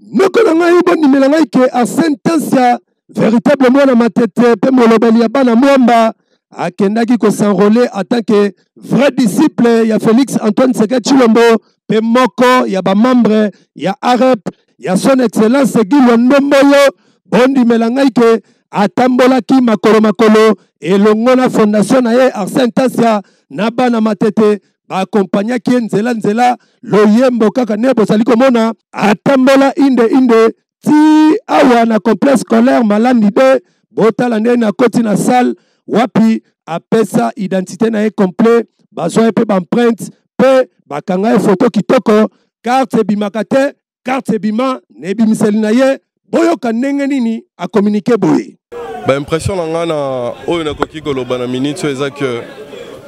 noko na ngai bondimela ngai ke asentence ya véritable mwana matete mpe molobeli ya bana mwamba akendaki kosenrole atant que vrai disciple ya félix antoine seke tshilombo mpe moko ya bamembre ya arep ya son excellence Guy Wa Ndomboyo bondimela ngai ke atambolaki makolo makolo elongo na fondation na ye Arsène Tasia na bana Matete baakompanyaki ye nzela nzela loyembo kaka nde bozali komona atambola inde inde ti awa na complexe scolaire Malandi de botala nde nakoti na salle wapi apesa identité na ye complet bazwa ye mpe baempreinte mpe bakanga ye foto kitoko carte ebimaka te carte ebima na ebimiseli na ye boyoka ndenge nini akominike boye baimpression na ngai na oyo nakoki koloba na minute oyo eza ke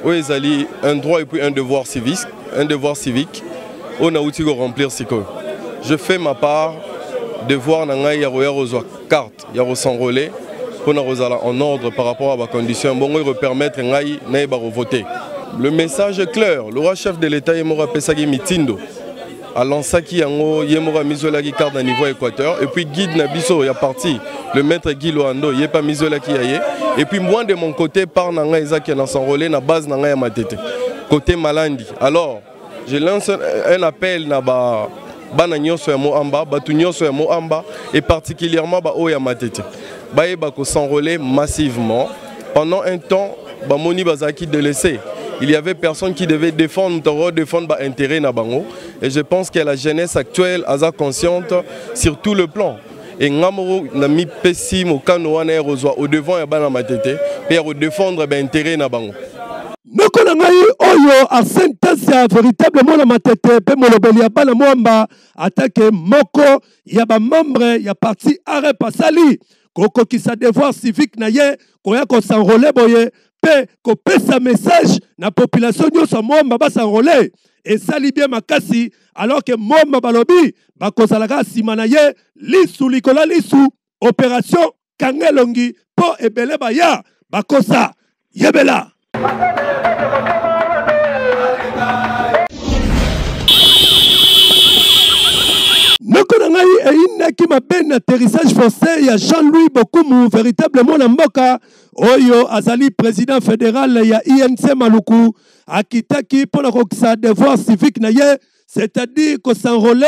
oyo ezali un droit et puis un devoir civique, un devoir civique oyo nauti koremplir sikoyo je fais ma part devoir na ngai ya koya kozwa carte ya ko s'enrôler pour na kozala en ordre par rapport à ba conditions bongo ko permettre ngai na ba voter le message est clair le roi chef de l'état ye moko apesaki mitindo alansaki yango ye moko amizwelaki carte na niveau ya équateur et puis guide na biso ya parti le maître guy loando ye mpe amizwelaki ya ye et puis moi de mon côté part na ngai eza ke na s'enrôler na base na ngai ya matete côté malandi alors Je lance un appel na ba bana nyonso ya Moamba, batu nyonso ya Moamba et particulièrement ba oya Matete. Baye ba ko s'enrôler massivement pendant un temps ba moni bazaki délaissés. Il y avait personne qui devait défendre, nous défendre bah, intérêt na bango. Et je pense que la jeunesse actuelle a consciente sur tout le plan. e nga moko namipesi mokano wana ya kozwa au devant ya bana matete mpe ya kodefendre bainteret na bango moko na ngai oyo asentasi ya veritable mwana matete mpe molobeli ya bana mwamba atake moko ya bamembre ya parti arep asali kokokisa devoir civique na ye koya kosanrole boye mpe kopesa message na population nyonso ya mwamba basanrole esali bien makasi alors que moma balobi bakozala kaka nsima na ye lisu likolo ya lisu operation kanga elongi mpo ebele baya bakosa yebela noko na ngai eyinaki mabe na atterrissage forcé ya jean-louis bokumu véritablement na mboka oyo azali président fédéral ya inc maluku akitaki mpo na kokisa devoir civique na ye c'est-à-dire kosenrole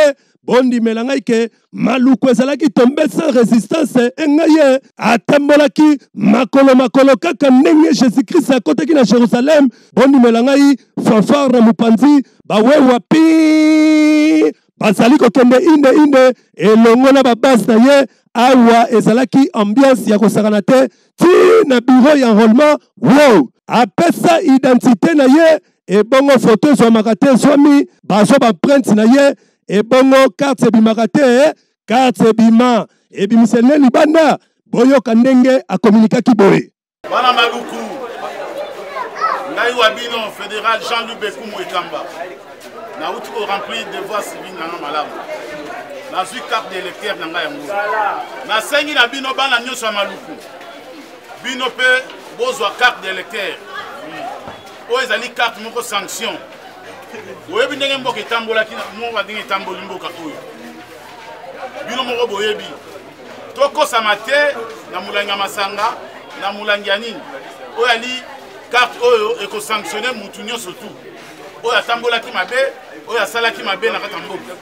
bondimela ngai ke maluku ezalaki tombe sans résistance e ngai ye atambolaki makolo makolo kaka ndenge jésus krist akotaki na jérusalem bondimela ngai fanfare na mopanzi bawewa pi bazali kokende inde inde elongo na babase na ye awa ezalaki ambiance ya kosakana te ti na bureau ya enrollement wow apesa identite na ye ebongo foto ezwamaka te ezwami bazwa baprinte na ye ebongo karte ebimaka te karte ebima ebimisa ne libanda boyoka ndenge akominikaki boye bana maluku ngai wa bino federal jean luc bekumu ekamba nauti ko remplir devoir civil na nga malamu nazwi carte d'électeur na ngai yango nasengi na bino bana nyonso ya maluku bino mpe bozwa carte d'électeur oyo ezali carte moko sanction oyebi ndenge mboka etambolaki moko ndenge etamboli mboka oyo bino moko boyebi tokosama te na molangi ya masanga na molangi ya nini oyo ali carte oyo ekosanctionne motu nyonso tout oyo atambolaki mabe oyo asalaki mabe na kati ya mboka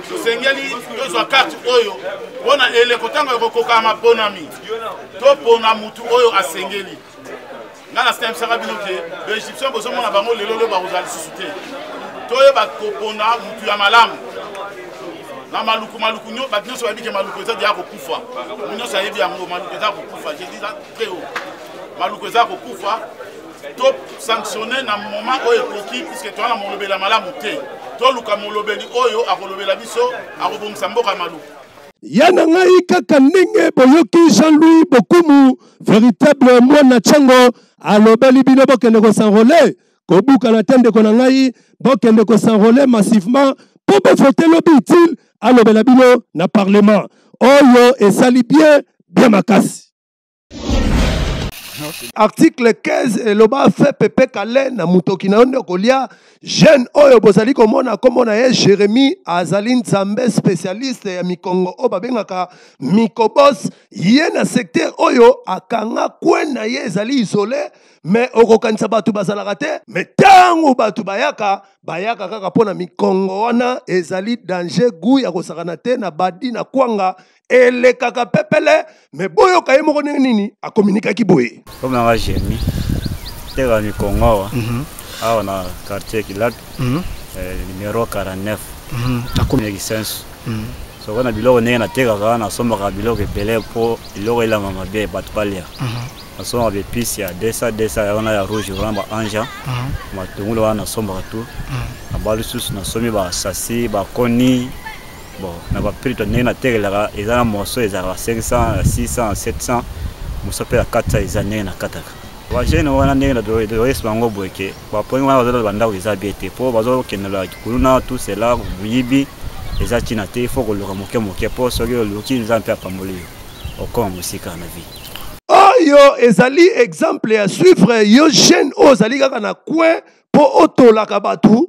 tosengeli tozwa karte oyo mpo na eleko ntango ya kokokana maponami topona motu oyo asengeli ngai nasembisaka bino ke baegyptien bozomona bango lelo leo bakozala lisusu te toyeba kopona motu ya malamu na maluku maluku bato nyonso bayebi ke maluku eza deya kokufa mo nyonso ayebi yango maluku eza kokufa jesus très haut maluku eza kokufa to sanctionne na moment oyo ekoki puiske toza na molobeli ya malamu te toluka molobeli oyo akolobela biso akobongisa mboka malu ya na ngai kaka ndenge boyoki jean-louis bokumu véritable mwana chango alobeli bino bokende kosanrole kobukana te ndeko na ngai bokende kosanrole massivement mpo bovote lobi utile alobela bino na parlement oyo esali bien bien makasi article 15 eloba fe pepe kale na motoki na yo nde okolia jeune oyo bozali komona nkombo na ye jérémie azali nzambe spécialiste ya mikongo oyo babengaka mikobos ye na secteur oyo akanga kwe na ye ezali isole me okokanisa bato bazalaka te me ntango bato bayaka bayaka kaka mpo na mikongo wana ezali danger gu ya kosakana te na badi na kwanga elekaka pepele me boyoka ye moko ndenge nini akominikaki boye komanga jeremi teka mikongo awa mhm. awa na quartier kilabi mhm. eh, numero 49 mhm. nakomi kisensu soko na biloko ndenge natekaka nasombaka biloko ebele mpo biloko elanga mabe bato balia nasombaka baepice ya 200 200 ya wana ya rouge wana ba anja matungulu wana nasombaka tu naba lisusu nasombi basasi bakoni bon na ba prix to ndenge na tekelaka eza na morceau ezalaka 500 600 700 mosusu mpe ya 400 eza ndenge na kataka bajeune wana ndenge na doyesi bango boye ke bapongi wana bazolala bandako eza bie te mpo bazokendela kuluna tout cela moyibi eza ntina te ifo koluka moke moke mpo soki oluki nza mpe apamboli yo okoma mosika na vie oyo ezali exemple ya suivre yo jeune oyo ozali kaka na coin mpo otolaka bato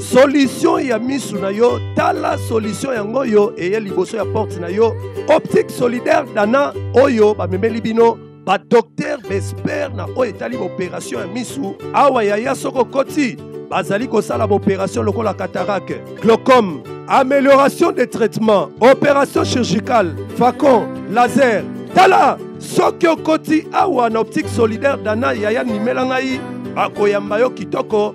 solution ya misu na yo tala solution yango oyo eye liboso ya porte na yo optique solidaire dana oyo bamemeli bino badoktere baespere na oyo etali baoperation ya misu awa yaya soko okoti bazali kosala baoperation lokola catarake glaucome amélioration des traitements opération chirurgicale facon laser tala soki okoti awa na optique solidaire dana yaya nimela ngai bakoyamba yo kitoko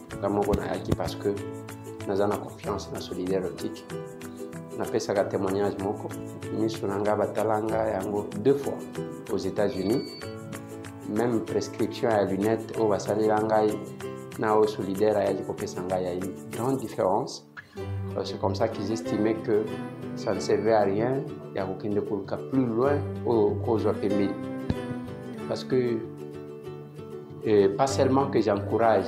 nga moko nayaki parce que naza na confiance na solide erotique napesaka témoignage moko miso na nga batala nga yango deux fois aux états-unis même prescription ya lunette oyo basalela ngai na oyo solidaire ayaki kopesa ngai ya une grande différence euh, c'est comme ça qu'ils estimaient que ça ne servait à rien ya kokende koluka plus loin oyo kozwa pembeni parce que Euh, pas seulement que j'encourage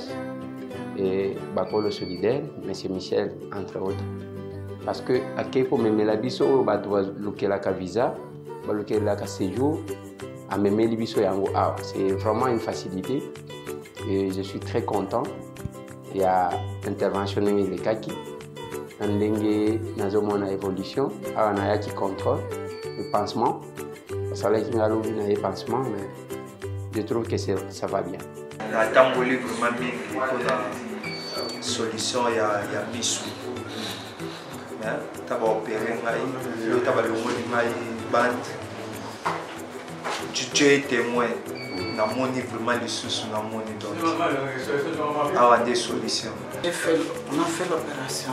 euh, Bakolo Solidaire, M. Michel, entre autres, parce que à Keko Memela Biso, oh, bah, Lukelaka Visa, bah, Lukelaka Séjour, à Memeli Biso Yango ah, C'est vraiment une facilité et je suis très content. Il y a intervention de Kaki, Ndenge Nazomona Évolution, Aranayaki Contrôle, le pansement, ça l'a qui n'a pas pansement, mais je trouve que ça va bien natamboli vraiment mingi mpona solution ya, ya misu ta baopere ngai yo ta balongoli ngai bande tu es témoin namoni vraiment lisusu namoni donc awa nde solution on a fait l'opération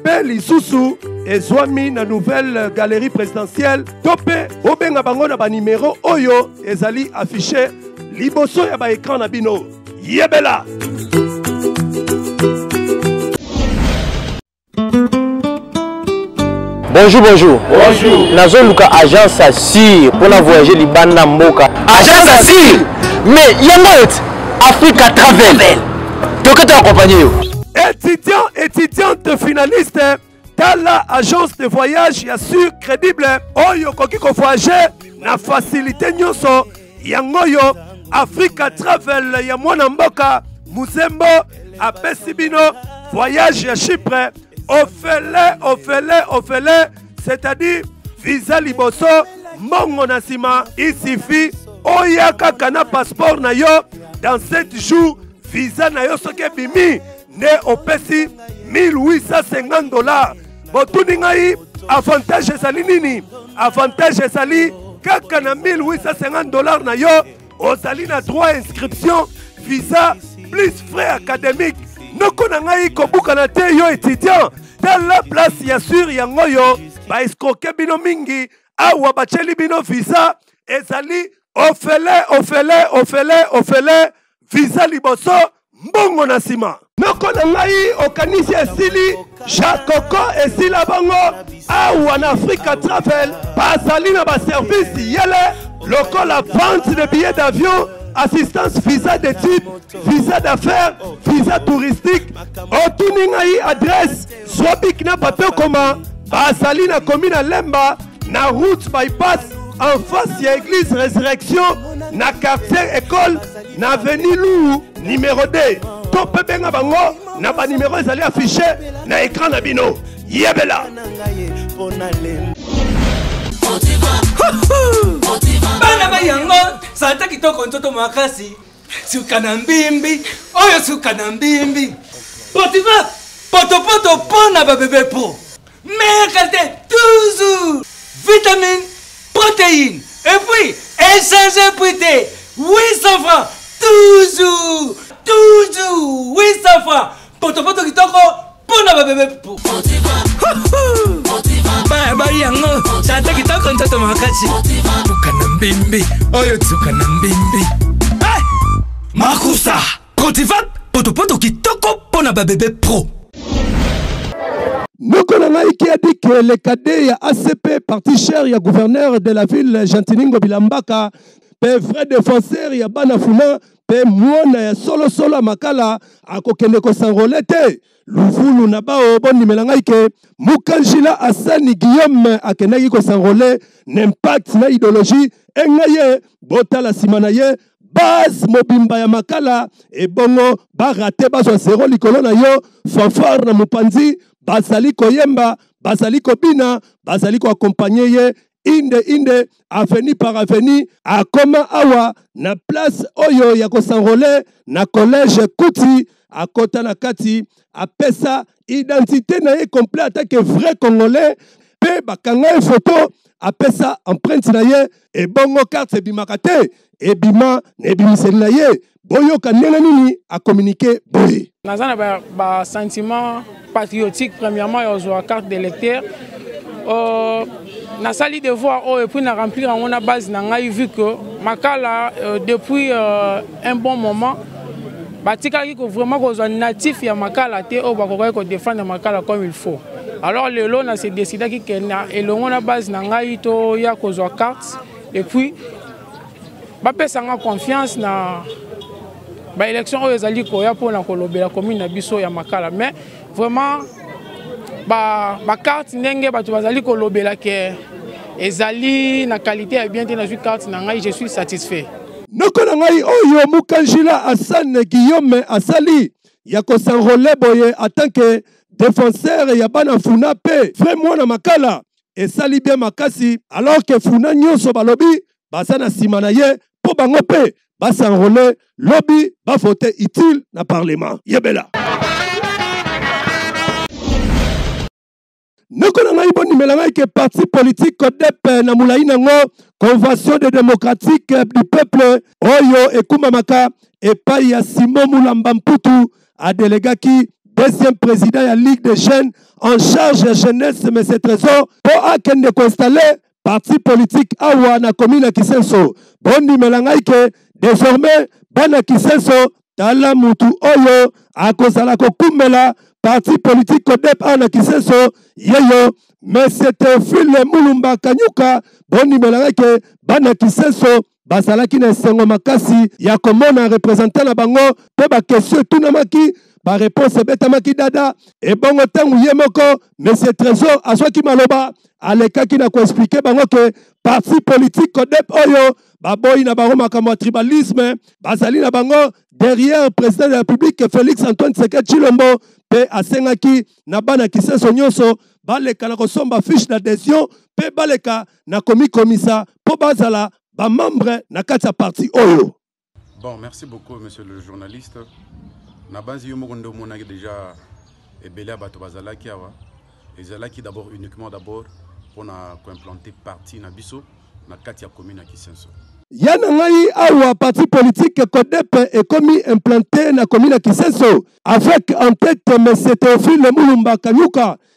mpe lisusu ezwami na nouvelle galerie présidentielle to mpe bobenga bango na banimero oyo ezali affiche liboso ya baekran na bino yebela bonjour bonjour bonjour nazoluka agence assure mpo na voyage libanda mboka agence assure mais yango ete africa travel toke to accompagne yo étudiant étudiante finaliste tala agence de voyage ya sur crédible oyo okoki kovoyage na facilité nyonso yango oyo africa travel ya mwana mboka muzembo apesi bino voyage ya chypre ofele ofele ofele c'est-à-dire visa liboso mbongo na nsima isifi oya kaka na passeport na yo dans 7 jours visa na yo soki ebimi nde opesi 1850 dollars botuni ngai avantage ezali nini avantage ezali kaka na 1850 dollars na yo ozali na droit inscription visa plus frais académique noko na ngai kobukana te yo étudiant tala place ya sur yango oyo baescroke bino mingi awa batyeli bino visa ezali ofele ofele ofele ofele visa liboso mbongo na nsima noko na ngai okanisi esili jakoko esila bango awa na afrika travel bazali na baservice yele lokola vente de billet d'avion assistance visa d'étude visa d'affaires visa touristique otuni ngai adresse Swabik na bato ekoma bazali na komi na Lemba na route bypass en face ya église résurrection na quartier école na avenue Lou numéro 2 to mpe benga bango na banimero ezali affiche na écran na bino yebela bana ba yango santa kitoko nzoto makasi suka na mbimbi oyo suka na mbimbi potifa potopoto mpo na babebe po meilleure qualité toujours vitamine protéine et puis échange prix te 800 francs toujours toujours 800 francs potopoto kitoko mpo na babebe po baya bayi yango tata kitoko ntoto makasi tuka na mbembe oyo tuka na mbembe eh! makusa cotivap potopoto kitoko mpo na babebe pro noko na ngai kiadi ke le cadet ya acp parti cher ya gouverneur de la ville gentiningo bilambaka mpe vrai défenseur ya bana funa mpe mwana ya solosolo ya makala akokende kosanrole te luvulu na bao bondimela ngai ke mukanjila asani guillaume akendaki kosanrole na impact na ideologie enga ye botala nsima na ye base mobimba ya makala ebongo barate bazwa zero likolo na yo fanfare na mopanzi bazali koyemba bazali kobina bazali koakompanye ye inde inde aveni par aveni akoma awa na place oyo ya kosanrole na collège kuti akota na kati apesa identité na ye complet atake vrai congolais mpe bakanga ye foto apesa empreinte na ye ebongo carte ebimaka te ebima na ebimiseli na ye boyoka ndenge nini akominike boye naza na basentiment ba patriotique premièrement ya ozwa carte de lecteur euh, nasali devoir oyo oh, epuis na remplir yango na base na ngai vu que makala euh, depuis euh, un bon moment batikalaki vraiment kozwa natif ya makala te oyo oh, bakokaki kodefendre makala comme il faut alors lelo na se décidaki ke na elongo na base na ngai toya kozwa carte epuis bapesa nga confiance na baélection oyo ezali koya mpona kolobela commune na biso ya makala mais vraiment bacarte ba ndenge bato bazali kolobela ke ezali na qualité ya bien te nazwi carte na ngai je suis satisfait noko na ngai oyo mukanjila hasane guillaume asali ya kosanrole boye atanke defenseur ya bana funa mpe vrai mwana makala esali bien makasi alors que funa nyonso balobi baza na nsima na ye mpo bango mpe basenrole lobi bavote utile na parlement yebela ndeko na ngai bondimela ngai ke parti politique codep eh, na molai nango convention de démocratique eh, du peuple oyo ekumbamaka epai ya simo mulamba mputu a delegaki deuxième président ya ligue des jeunes en charge ya jeunesse mais ce trésor mpo akende koinstalle parti politique awa na commune ya kisenso bondimela ngai ke désormais bana kisenso tala mutu oyo akozala kokumbela parti politique kodep awa na kisenso yeyo mais ce teofile mulumba kanyuka bondimela ngai ke bana kisenso bazalaki na esengo makasi ya komona representant na bango mpe bakestion etunamaki bareponse ebetamaki dada ebongo ntango ye moko monsieur trésor azwaki maloba alekaki na koexplike bango ke parti politique codep oyo baboyi na bango makambo ya tribalisme bazali na bango derrière président de la république félix antoine seke chilombo mpe asengaki na bana kisenso nyonso baleka na kosomba fiche d'adhesion mpe baleka na komikomisa mpo bazala bamembre na kati ya parti oyo bon merci beaucoup monsieur le journaliste nabanzi yo moko nde omonaki déjà ebele ya bato bazalaki awa ezalaki d'abord uniquement d'abord mpo na koimplante parti na biso na kati ya commune ya kisenso ya na ngai awa parti politique codepe ekomi implante na commune ya kisenso avec en tête monsieur théophile mulumba kanyuka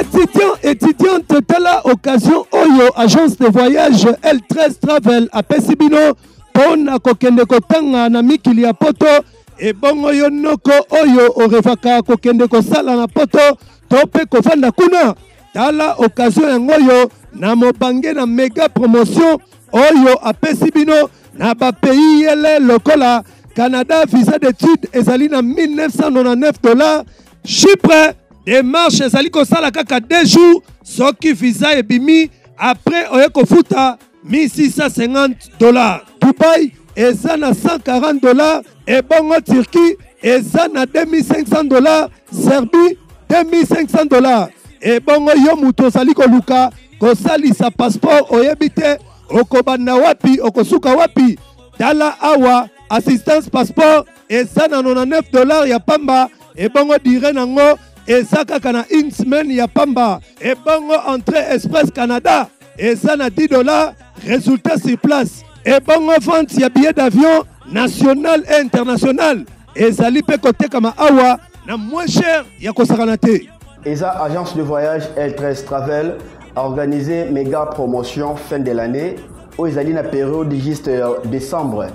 Étudiants, étudiante, telle occasion, Oyo, agence de voyage L13 Travel à Pessibino, pona kokende kotanga na mikili ya poto ebongo yo noko oyo orevaka kokende kosala na poto to mpe kofanda kuna Tala occasion yango oyo na mobange na mega promotion oyo apesi bino na bapays yele lokola Canada visa d'étude ezali na 1999 dollars Chypre démarche ezali kosala kaka 2 jours soki visa ebimi après oye kofuta 1650 dollars dubai eza na 140 dollars ebongo turquie eza na 2500 dollars serbie 2500 dollars ebongo yo moto ozali koluka kosalisa passeport oyebi te okobanda wapi okosuka wapi tala awa assistance passeport eza na 99 dollars ya pamba ebongo dire nango eza kaka na une semaine ya pamba ebongo entrée express canada eza na 10 dollars résultat sur place ebongo vente ya billet d'avion national et international ezali mpe kotekama awa na moins cher ya kosakana te eza agence de voyage l13 travel organise mega promotion fin de l'année oyo ezali na periode juste ya décembre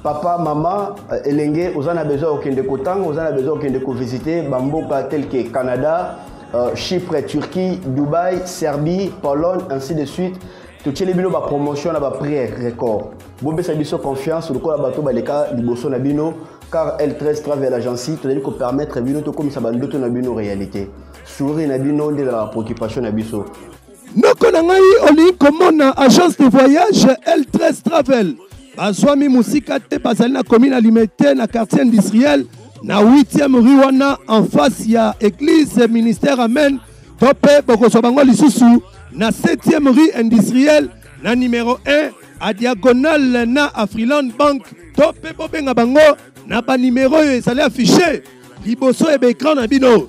papa mama euh, elenge oza na besoin ya kokende kotanga oza na besoin ya kokende kovisite bamboka tel ke canada euh, chypre turquie dubaï serbie pologne ainsi de suite totyeli bino bapromotion na baprix record bopesa biso confiance lokola bato baleka liboso na bino car l13 travel agency tozali kopermettre bino tokomisa bandoto na bino réalité sourire na bino nde ezalaka préoccupation na biso noko na ngai olingi komona agence de voyage l13 travel bazwami mosika te bazali na commune ya limete na quartier industriel na 8e rue wana en face ya église ministère amen to mpe bokozwa bango lisusu na 7e rue industriel na numero 1 a diagonale na afriland bank to mpe bobenga bango na banimero oyo ezali affiche liboso ya baekran na bino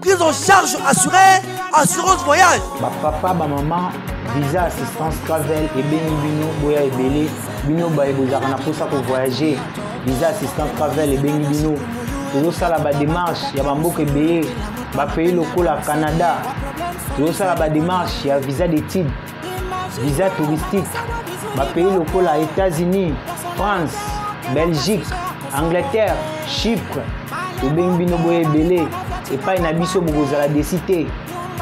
Prise en charge assurée, assurance voyage. Ba papa, ba maman, visa assistance travel et beni bino boya ebele bino baye bozalaka na mposa ko voyager visa assistance travel et beni bino tozosala bademarche ya bamboka ebele bapays lokola canada tozosala bademarche ya visa d'étude visa touristique bapays lokola états-unis france belgique angleterre chypre tobengi bino boye ebele epai na biso bokozala desi te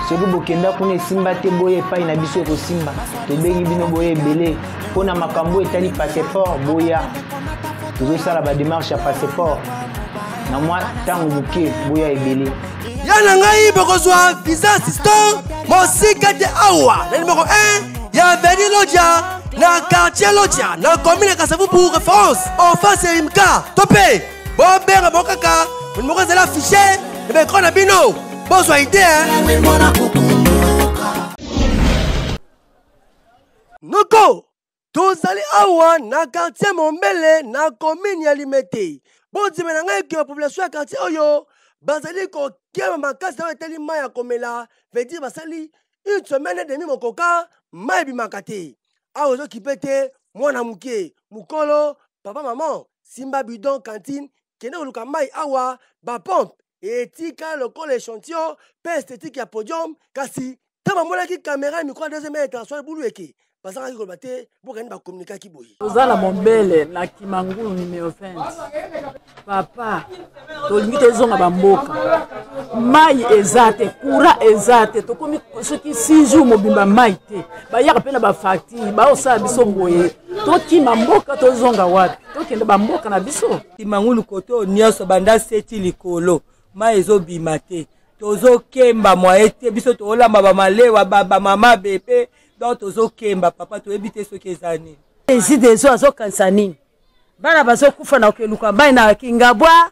soki bokenda kuna esimba te boye epai na biso ekosimba tobengi bino boye ebele mpo na makambo oyo etali passeport boya tozosala bademarche ya passeport na mwa ntango moke boya ebele ya na ngai bokozwa visa assistant mosika te awa na nimero 1 ya veni loja na quartier loja na commune ya kasavubu référence en face ya imka to mpe bobenga bango kaka nimero ezali affiche na baekran na bino bozwa ide noko tozali awa na quartier mombele na commune ya limete bondima na ngai ke population ya quartier oyo bazali kokeba makasi oyo etali mai ya komela vedire basali une semaine demi mokoka mai ebimaka te awa ezokipe te mwana moke mokolo papa mama simba bidon cantine kende koluka mai awa bapompe etika lokola echantillon mpe esthétique ya podium kasi ntango bamonaki kamera ya mikro ya deuxième ya international ebulu eke bazangaki koloba te bokani bakomunikaki boye toza na mombele na kimangulu numero 20 papa tolingi tozonga bamboka mai eza te kura eza te tokomi soki 6 jour mobimba mai te bayaka mpe na bafacture baosala biso boye tokima mboka tozonga wapi tokende bamboka na biso kimangulu kote oyo nyonso banda seti likolo mai ezobima te tozokemba mwaye te biso toolamba bamalewa bamama bebe donc tozokemba papa toyebi te soki eza nini ezide ezo azokanisa nini bana bazokufa na kokeluka mai na kingabwa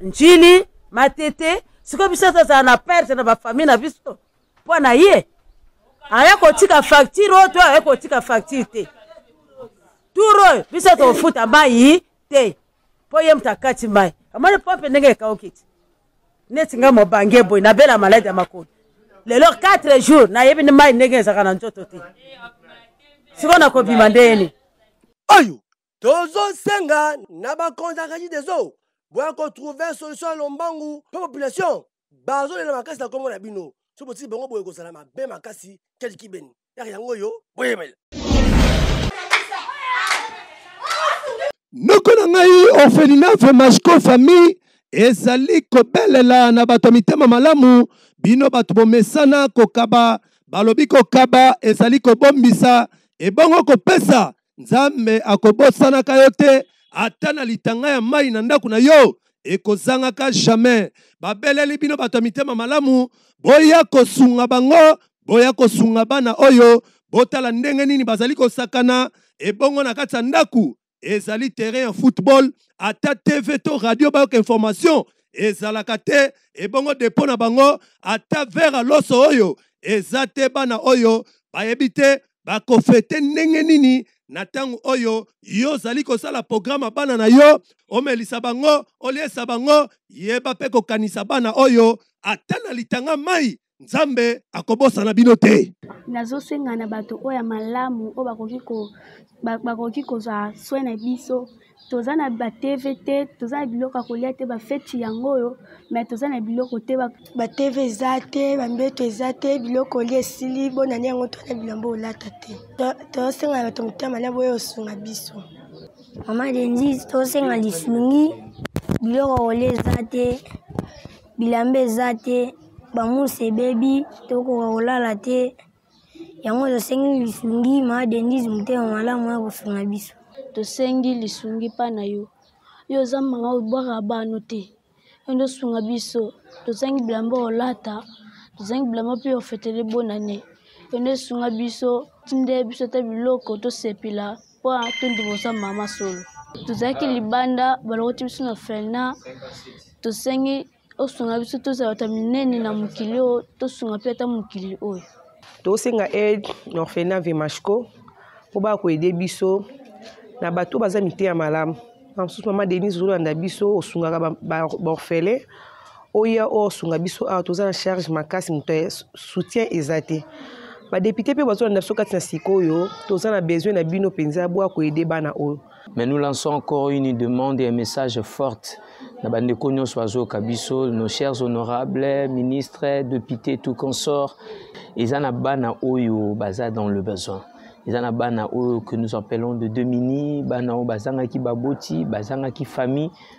njili matete sikoyo biso tozala na perte na bafamille na biso mpo na ye aya kotika facture oyo to aya kotika facture te turo biso tokofuta mai te mpo ye moto akati mai amoni pompe ndenge ekauki te neti ngai mobange boye nabela maladi ya makolo lelo 4 jours nayebi ni mai ndenge ezalaka na nzoto te sikoyo nakobima ndenge nini oyo tozosenga na bakonzi ya kaji des eaux boya kotrouve solution ya lombangu mpe population bazolela makasi na nkombo na bino so botiki bango boye kozala mabe makasi kelikibeni yaka yango oyo boyebela noko na ngai orphelinave masco famille ezali kobelela na bato ya mitema malamu bino bato bomesana kokaba balobi kokaba ezali kobombisa ebongo kopesa nzambe akobosanaka yo te ata na litanga ya mai na ndako na yo ekozangaka jamais babeleli bino bato ya mitema malamu boya kosunga bango boya kosunga bana oyo botala ndenge nini bazali kosakana ebongo na kati ya ndako ezali terrain ya football ata tv to radio bayoka information ezalaka te ebongo depo na bango ata vere loso oyo eza te bana oyo bayebi te bakofete ndenge nini na ntango oyo yo ozali kosala programe ya bana na yo omelisa bango oliesa bango yeba mpe kokanisa bana oyo ata na litanga mai nzambe akobosana bino te nazosenga na bato oyo ya malamu oyo bakoki ko bakoki kozwa soin na biso toza na ba tv te toza na biloko ya kolia te bafeti yango oyo me toza na biloko te ba tv eza te bambeto eza te biloko olia esili bonani yango to na bilamba olata te tosenga na bato motema na boye osunga biso mama denzi tosenga lisungi biloko olia eza te bilamba eza te bamusi ebebi tokoka kolala te yango tosengi lisungi ma denise motema malamu ya kosunga biso tosengi lisungi mpa na yo yo oza mama obwaka bano te yo nde osunga biso tozangi bilamba olata tozangi bilamba mpe ofetele bonane yo nde osunga biso tinde biso ata biloko tosepela mpo tondima oza mama solo tozalaki libanda balokoti biso na felna tosengi osunga biso tozala bato ya minene na mokili oyo tosunga mpe ata mokili oyo tosenga aide na orphelina vemashco mpo baya koede biso na bato baza miteya malamu na mosusu mama denise ozolanda biso osungaka baorphelin ba, ba oya osunga biso awa toza na charge makasi moto ya soutien eza te badepute mpe bazolanda biso kati na sikoyo toza na besoin na bino mpenza bwa koyede bana oyo Mais nous lançons encore une demande et un message forte na bandeko nyonso bazoyoka biso nos chers honorables ministres députés tout consort eza na bana oyo baza dans le besoin eza na bana oyo que nous appelons de demini bana oyo bazangaki baboti bazangaki famille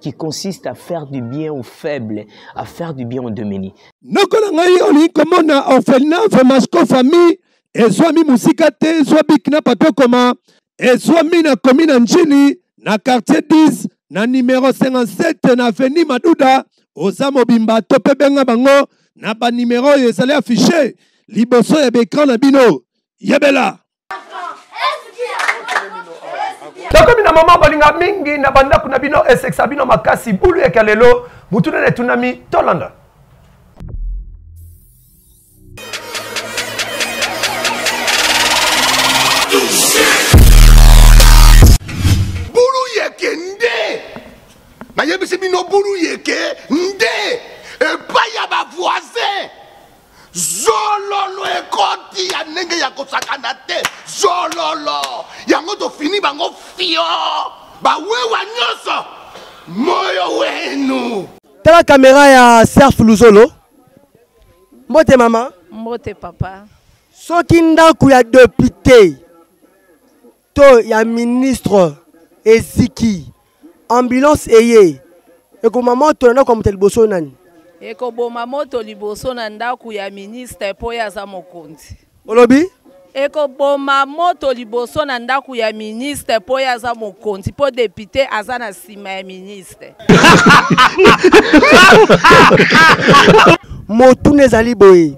qui consiste à faire du bien aux faibles, à faire du bien aux démunis. Nokola ngai olingi komona orphelinat Vemasco famille ezwami mosika te ezwa biki na papier okoma ezwami na komi na njili na quartier 10 na numero 57 na avenue maduda oza mobimba to mpe benga bango na banimero oyo ezali affiche liboso ya baekran na bino yebela nakomi na mama balinga mingi na bandako na bino esekisa bino makasi bulu yaka lelo motu nene etunami tolanda bulu yeke nde nayebisi bino bulu yeke nde epai ya bavoisin zololo ekoti ya ndenge ya kosakana te zololo yango tofini bango fio bawewa nyonso moyo wenu tala kamera ya serf luzolo mbote mama mbote papa soki ndako ya depute to ya ministre eziki ambulance eye ekoma moto na ndako ya moto ya liboso nani ekoboma moto liboso na ndako ya ministre mpo ye aza mokonzi olobi ekoboma moto liboso na ndako ya ministre mpo ye aza mokonzi mpo depute aza na nsima ya ministre motuna ezali boye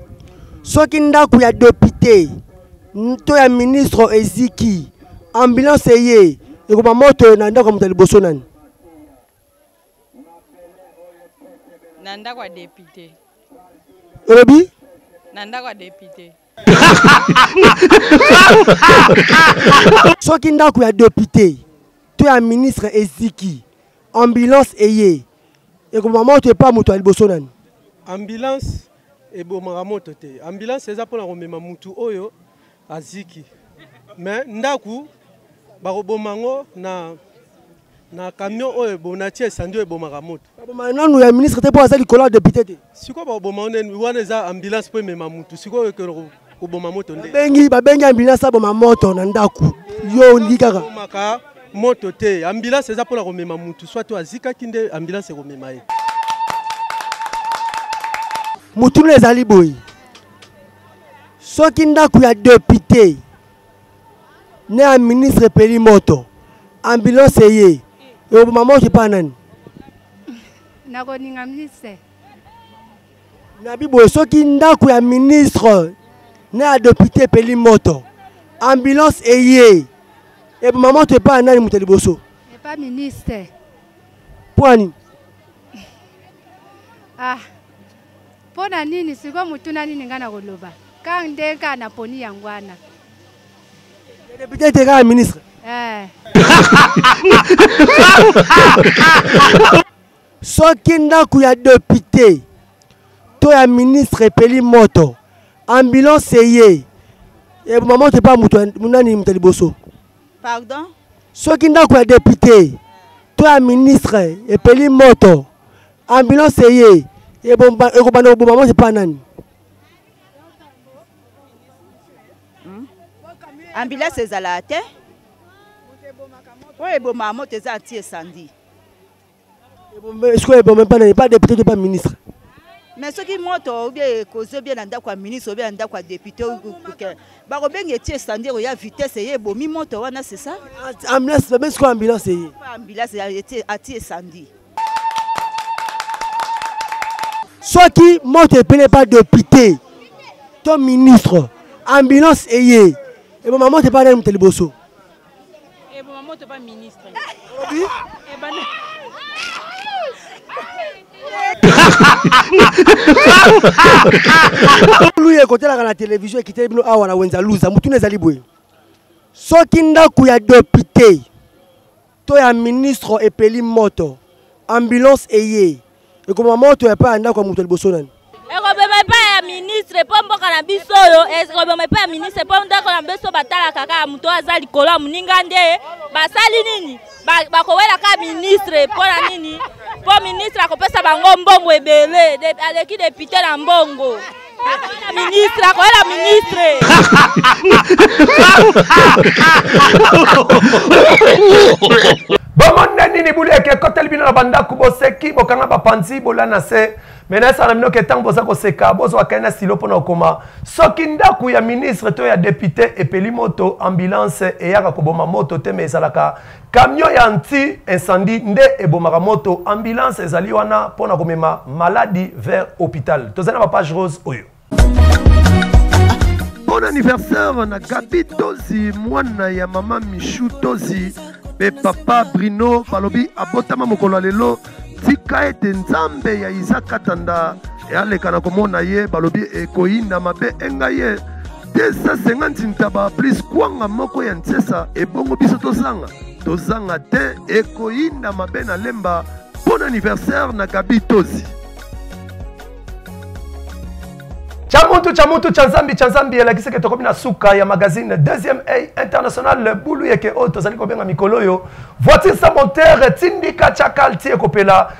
soki ndako ya depute to ya ministre eziki ambulance eye ekoma moto na ndako ya moto ya liboso nani na ndako ya depute olobi na ndako ya depute soki ndako ya depute to ya ministre eziki ambulance eye ekoma moto epa moto ya liboso nani ambulance ebomaka moto te ambulance eza mpona komema mutu oyo aziki me ndaku bakoboma yango na na camion oyo ebonati esandi oyo ebomaka moto baboma nanu ya ministre te mpo aza likolo ya depute te sikoyo bakoboma wana eza ambulance mpo emema mutu sikoyo ekelo koboma moto nde babengi babengi ambulance aboma moto na ndako yo olingi kaka moto te ambulance eza mpona komema motu soit oyo azikaki nde ambulance ekomema ye motuna ezali boye soki ndako ya depute na ya ministre epeli moto ambulance eye ekoboma moto epai nani nakoninga ministre na biboye soki ndako ya ministre na ya depute epeli moto ambulance eye eboma moto epai ya nani moto ya liboso epai ministre mpo ya nini ah mpo na nini sikoyo motuna nini ngai nakoloba kaka nde kaka naponi yango wana depute ete kaka ministre eh. soki ndako ya depute to ya ministre epeli moto ambulance eye eboma moto epa moto nani moto ya liboso pardon soki ndako ya depute to ya ministre epeli moto ambulance eye ekobanda koboma moto epa nani hmm? ambulance ezalaka te oyo ebomaka moto eza anti esandi sikoyo eboma epa nani epa depute to epa ministre mais soki moto obie ekozi obie na ndako ya ministre obie na ndako ya depute bakobenga etie standir oya vitesse eye ebomi moto wana c'est ça ambulance babengi sikoyo ambulance eye ambulance atie esandi soki moto epele epa depute to ministre ambulance eye eboma moto epa nani moto liboso eboma eh, moto ba ministre olobi ebana eh, luya ekotelaka na televizio ekiteli bino awa na wenza luza motuna ezali boye soki ndako ya depute to ya ministre epeli moto ambulance eye ekoboma moto ya epai ya ndako ya moto ya liboso nani ekobema epai ya ministre mpo mboka na biso oyo ekobema epai ya ministre mpo ndako na biso batalaka kaka moto oyo aza likolo ya moninga nde basali nini bakowela kaka ministre mpo na nini mpo ministre akopesa bango mbongo ebele aleki depute na mbongo ministre akoyela ministre bomona nini bulu eke ekoteli bino na bandako boseki bokanga bapanzi bola na se me nayesala na bino ke ntango boza koseka bozwaka ye na silo mpo na kokoma soki ndako ya ministre to ya depute epeli moto ambulance eyaka koboma moto te me ezalaka Camion ya anti incendie nde ebomaka moto, ambulance ezali wana mpo na komema maladi vers hôpital. Tozali na ba page rose oyo. Bon anniversaire na Gabi Tozi mwana ya mama Michou Tozi mpe papa Bruno balobi abotama mokolo ya lelo tika ete nzambe ya Isaac Katanda aleka na komona ye balobi ekoyinda mabe enga ye 250 ntaba plus kwanga moko ya nsesa ebongo biso tozanga tozanga te ekoyinda mabe na lemba bon anniversaire na gabi tozi cha mutu cha mutu cha nzambi cha nzambi elakisi ke tokomi na suka ya magazine deuxième œil international bulu yeke oyo tozali kobenga mikolo oyo voiture sa montere tindika cha kalti ekopela